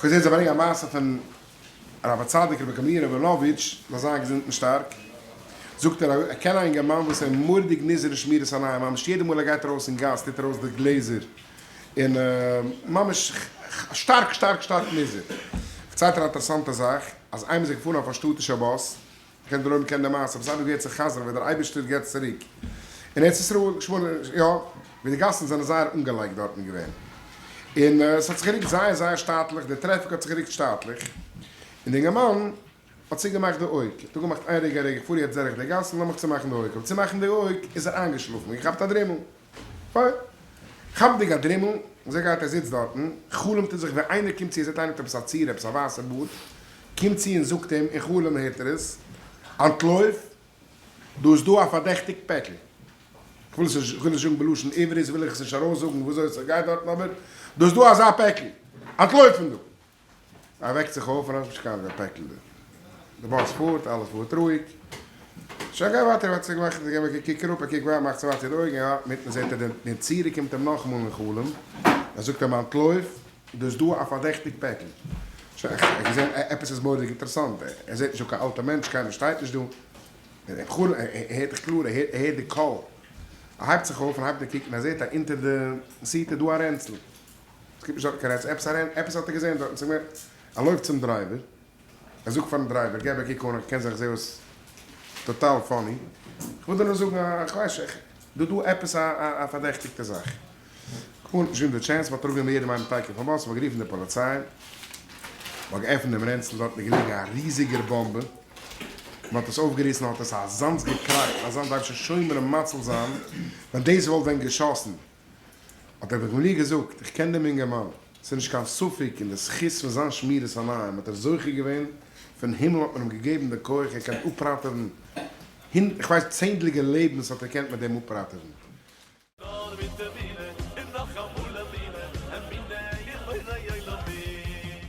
כ'האב געזען זיי ברענגען א מעשה פון הרב הצדיק רבי גמליאל ראבינאוויטש זאל זיין געזונט און שטארק, זאגט ער, ער קען א אינגערמאן וואס ער מורדיג נזהר אין שמירת עניים, ממש יעדע מאל ער גייט ארויס אין גאס טוט ער אויס די גלעזער, און ממש שטארק שטארק שטארק נזהר, פארציילט ער א אינטערעסאנטע זאך, אז איינמאל איז ער געפארן אויף א שטאטישע באס, כ'קען דער עולם קען די מעשה, וואס אייביג ווערט זיך חזר ווען דער אייבישטער געבט צוריק אין ארץ ישראל, שמונה י, ווי די גאסן זענען זייער אנגעלייגט דארטן געווען, און עס האט זיך גערוקט זייער זייער שטאטליך, די טרעפיק האט זיך גערוקט שטאטליך, און די אינגערמאן האט צוגעמאכט די אויג, כ'האב געמאכט איין רגע א רגע, כ'פאר יעצט דורך די גאסן, לאמיך צומאכן די אויג, כ'וועל צומאכן די אויג, איז ער איינגעשלאפן, געכאפט א דרימל. פיין. כאפנדיג א דרימל, זעה גייט ער זיצט דארטן, חלומ'ט ער זיך ווי איינער קומט צו און זעט איינער האט עפעס א צורה, עפעס א ווייסע בארד, קומט צו און זאגט אים, אין חלום הערט ער עס, אנטלויף, דא איז דא א פארדעכטיג פעקל, כ'וויל עס נישט, כ'וויל עס זאגן בלשון עברית וויל איך עס נישט ארויסזאגן וויאזוי עס גייט דארטן אבער, דא איז דא אזא פעקל, אנטלויף פון דא! ער וועקט זיך אויף, רשב ש קארגע פעקל, די באס פארט, אלעס פארט רואיג, שוין גיי ווייטער, ער האט זיך געמאכט און געוועקט, ער קוקט אראפ, ער קוקט ווייט, מאכט צו ווייטער די אויגן, און אינמיטן זעט ער דעם נצירי קומט אים נאכאמאל אין חלום, ער זאגט אים אנטלויף, דאס דא א פארדעכטיג פעקל, שוין ער האט געזען עפעס איז מורא'דיג אינטערעסאנט, ער זעט נישט דא קיין אלטע מענטש, קיינער שטייט נישט דא, אין חלום, ער הערט דאך קלאר, ער הערט די קול, ער הייבט זיך אויף און הייבט אן קוקן, ער זעט אז אונטער די סיט איז דא א רענצל, עס קומט נישט דארטן קיין עץ עפעס אריין, עפעס האט ער געזען דארטן, זאג מיר, ער לויפט צום דרייווער, ער זאגט פארן דרייווער, געב א קוק אן, איך קען זיך, איך זע אויס טאטאל פאני, איך וויל דיר נאר זאגן, איך ווייס שוין, איך, דא איז דא עפעס א פארדעכטיגטע זאך. קאר נישט געווען די טשענס, מען האט אראפ גענומען יעדעם איינעם טייקער פון באס, מען האט גערופן די פאליציי, מען האט געעפנט דעם רענצל, דארטן איז געליגן א ריזיגער באמבע, מען האט עס אויפגעריסן, האט עס אזאנס געקראכט, אזאנס דארף שוין שומרים מציל זיין, ווען דאס וואלט ווען געשאסן. האט ער דאך מיר געזאגט, איך קען דעם אינגערמאן, ס'איז נישט קיין ספק, און די זכות פון זיין שמירת עיניים האט ער זוכה געווען, פון הימל האט מען אים געגעבן די כח, ער קען אפראטעווען, איך ווייס צענדליגע לעבנס האט ער געקענט מיט דעם אפראטעווען. נאר מיט טעווילע און נאכאמאל אמינה, אמינה אין בורא עולמים.